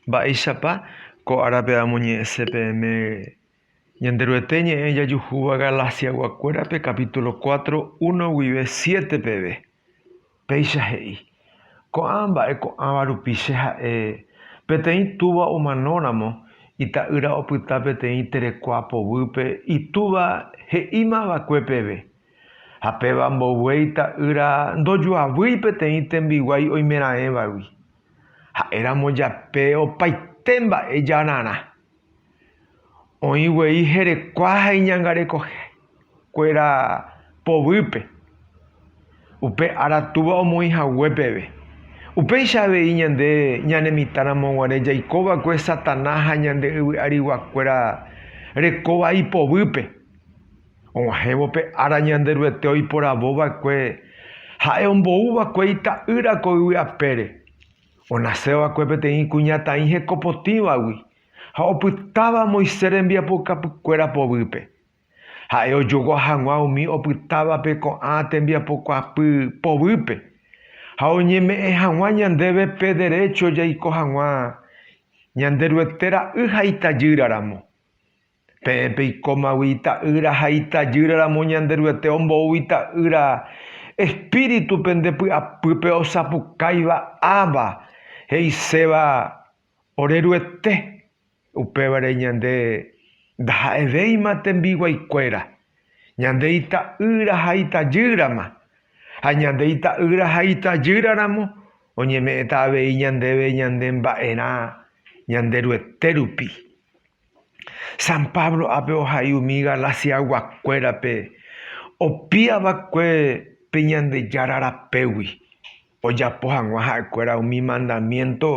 Mba'éichapa ko árape amoñe'ẽse peẽme Ñanderuete ñe'ẽ jajuhúva Galaciaguakuérape capítulo cuatro, uno guive siete peve? Péicha he'i, Ko'ã mba'e ko'ãva rupi che ha'e, Peteĩ túva omanóramo, ita'ýra opyta peteĩ terekua povýpe itúva he'íma va'ekue peve. Ha péva mboyve ita'ýra ndojoavýi peteĩ tembiguái oimeraẽvagui. Ha'éramo jape opaite mba'e jararã. Oĩ guei herekua ha iñangareko kuéra povýpe. Upe ára Túva omoĩ hague peve. Upéicha avei ñande ñane mitã ramo guare jaiko va'ekue Satanás ha ñande yvy'arigua kuéra rekóva ipovýpe. Og̃uahẽvo pe ára Ñanderuete oiporavo va'ekue Ha'e ombou va'ekue Ita'ýra ko yvy apére, onaséva va'ekue peteĩ kuñataĩ hekopotĩvagui, ha opytáva Moisés rembiapokapykuéra povýpe. Ha'e ojogua hag̃ua umi opytávape ko'ã tembiapokuaapy povýpe, ha oñeme'ẽ hag̃ua ñandéve pe derécho jaiko hag̃ua Ñanderuete ra'y ha itajýra ramo. Peẽ peikómagui ita'ýra ha itajýra ramo Ñanderuete ombou ita'ýra espíritu pende py'apýpe osapukáiva Abba, he'iséva ore Ruete, upévare ñande ndaha'evéima tembiguaikuéra, ñande ita'ýra ha itajýrama, ha ñande ita'ýra ha itajýra ramo oñeme'ẽta avei ñandéve ñane mba'erã Ñanderuete rupi. San Pablo ápe ohai umi Galasiaguakuérape opi'ava'ekue pe Ñandejára rapégui, ojapo hag̃ua ha'ekuéra umi mandamiénto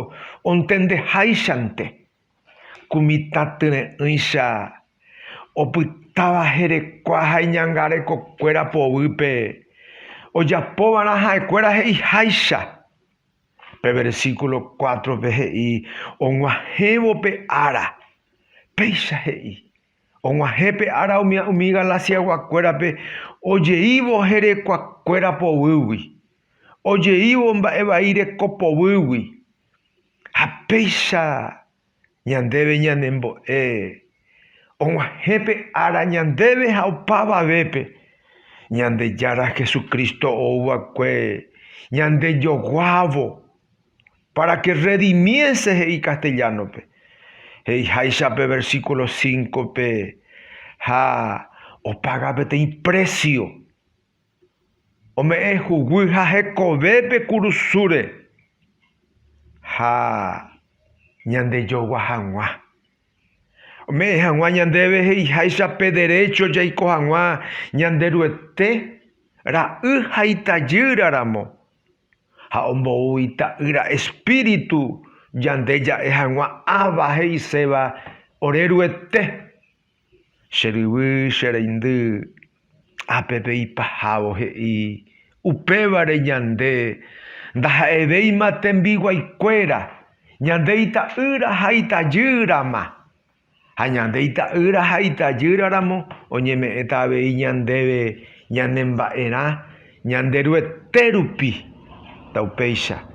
ontendeháichante, ku mitãtyre'ỹicha opytáva herekua ha iñangarekokuéra poguýpe, ojapova'erã ha'ekuéra he'iháicha. Pe versículo cuátrope he'i og̃uahẽvo pe ára. Péicha he'i, Og̃uahẽ pe ára umi Galaciaguakuérape ojeívo herekuakuéra poguýgui, ojeívo mba'e vai reko poguýgui. Ha péicha Ñandéve ñanembo'e og̃uahẽ pe ára ñandéve ha opavavépe, Ñandejára Jesucristo ou va'ekue ñandejoguávo, para que redimiese he'i castellano-pe, he'iháicha pe versículo cinco-pe, ha opaga peteĩ precio. Ome'ẽ huguy ha hekove pe kurusúre ha ñandejogua hag̃ua. Ome'ẽ hag̃ua ñandéve he'iháicha pe derécho jaiko hag̃ua Ñanderuete ra'y ha itajýra ramo, ha ombou Ita'ýra espíritu ñande ja'e hag̃ua Abba he'iséva oreruete. Che ryvy, che reindy, ápe pe ipahávo he'i, upévare ñande ndaha'evéima tembiguaikuéra, ñande ita'ýra ha itajýrama. Ha ñande ita'ýra ha itajýraramo oñeme'ẽta avei ñandéve ñanemba'erã Ñanderuete rupi, ta upéicha.